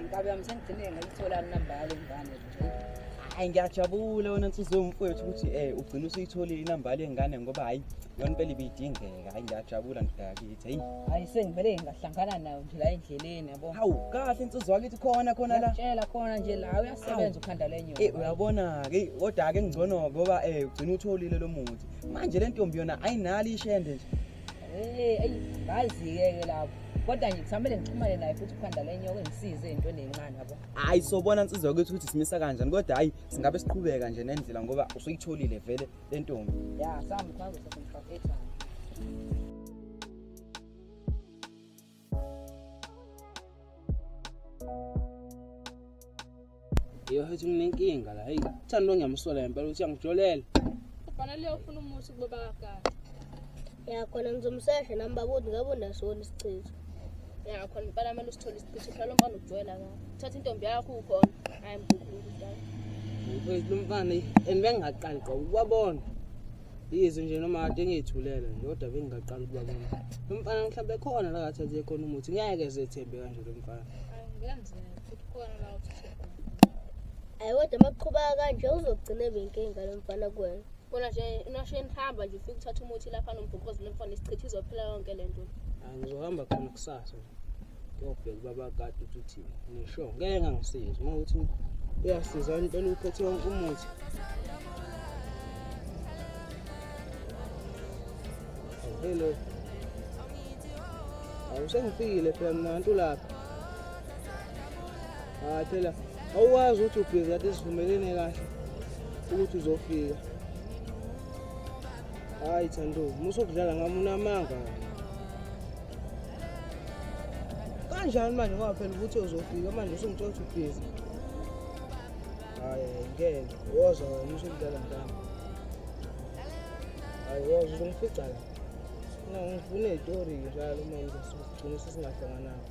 Inkabi yami sengigcine ngayithola inamba yale ngane nje. Hayi ngiyajabula wena nsizwe mfowethu ukuthi eh ugcina usuyitholile inamba yale ngane ngoba hayi yona impela ibidingeka. Hayi ngiyajabula ngidakithi. Hayi. Hayi sengivele ngahlangana nayo nje la endleleni yabo. Hawu kahle insizwa wakithi khona khona la. Tshela khona nje la uyasebenza ukhanda lenyoka. Eh uyabona ke kodwa ke ngcono ngoba eh ugcina utholile lo muthi. Manje le ntombi yona ayinali ishende nje. ngazike-ke lapho kodwa nje kusamele ngixhumane naye futhi ukhanda lenyoka ngisize entweni encane yabo hayi sobona nsizwa kwethu ukuthi simisa kanjani kodwa hhayi singabe siqhubeka nje nendlela ngoba usuyitholile vele le ntombi ya sambe kwangu sasengifakethana Yo hethi nginenkinga la. Hey, uthando ngiyamsola ngempela ukuthi angijolela. Kufanele ufune umuthi kubaba kaGada. Ya khona ngizomsesha nami babodi ngabe unasona isichitho. Ya khona impela manje usithola isichitho hlala umfana ujwayela kahle. Thatha intombi yakho ukhona. Hayi mkhulu. Ngifuna umfana and bengaqali qobo kwabona. Yizwe nje noma kade ngiyithulela nje kodwa bengingaqala ukuba mina. Lo mfana mhlawumbe khona la ngathi athe khona umuthi ngeke ezethembe kanje lo mfana. Angenzeka futhi khona la uthi. Ayi kodwa makuqhuba kanje uzogcina benkinga lo mfana kuwena. Bona nje unasheni hamba nje ufike uthatha umuthi lapha nombhokozi lo mfana isichitha izophela yonke lento. Angizohamba khona kusasa. Yobheka ubaba kade uthi uthini. Ngisho ngeke ngangisizi uma uthi uyasiza impela uphethe wonke umuthi. Hello. Awusengifikile phela mina ntu lapha. Hayi phela awukwazi ukuthi ubhizi kade sivumelene kahle ukuthi uzofika. Hayi Thando, musa ukudlala ngami unamanga. kanjani manje ngoba phela ukuthi uzofika manje usungitshela ukuthi ubhizi hayi ngeke woza wena usungitshela ntamba hayi woza uzongifica la no ngifuna itori njalo manje sigcine sesingahlangananga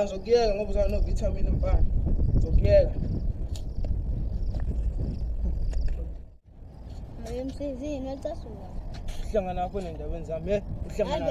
ngizokuyeka ngoba uzana novitamin mfana ngizokuyeka emsizini wacasuka uhlangana nakho nendabeni zami uhlangana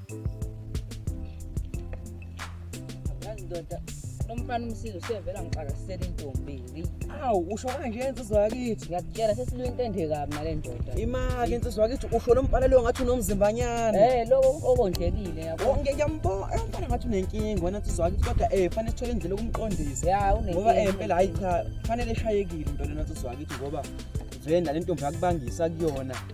Yazi ndoda nomfana umsizi usevela ngixakasela intombi. Awu usho kanje insizwa yakithi. Ngiyakutshela sesilu into ende kabi nale ndoda. Imake insizwa yakithi usho lo mfana leyo ngathi unomzimbanyana. Eh lokho okondlekile yabo. Oh, Ngiyambona eh, umfana ngathi unenkinga wena insizwa yakithi kodwa eh fanele sithole indlela yokumqondisa. Ya unenkinga. Ngoba eh impela hayi cha fanele eshayekile into lena insizwa yakithi ngoba vena le ntombi yakubangisa kuyona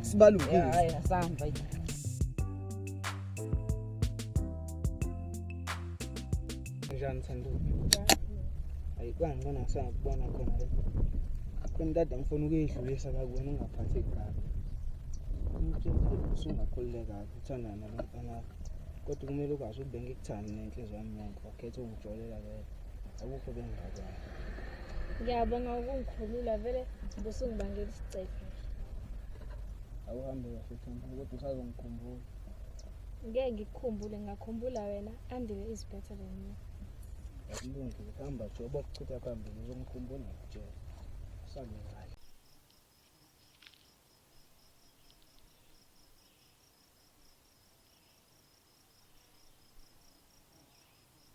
sibalungile hayi asihamba njani thanduka hayi kwangibona ngisangikubona khona le akhona dada ngifuna ukuyidlulisa la kuwena ungaphatheki kabi usungakhulule kabi uthandana nomfana kodwa kumele ukwazi ukube ngikuthande nenhliziyo yami yonke wakhetha ungijolela vele akukho bengaka ngiyabonga ukungikhulula vele busungibangela isicefe awuhambe kahle themba kodwa usazongikhumbula ngeke ngikukhumbule ngakhumbula wena andile is better than you akulungile hamba nje obokuchitha phambili uzomkhumbula ngikutshela usambe ngayo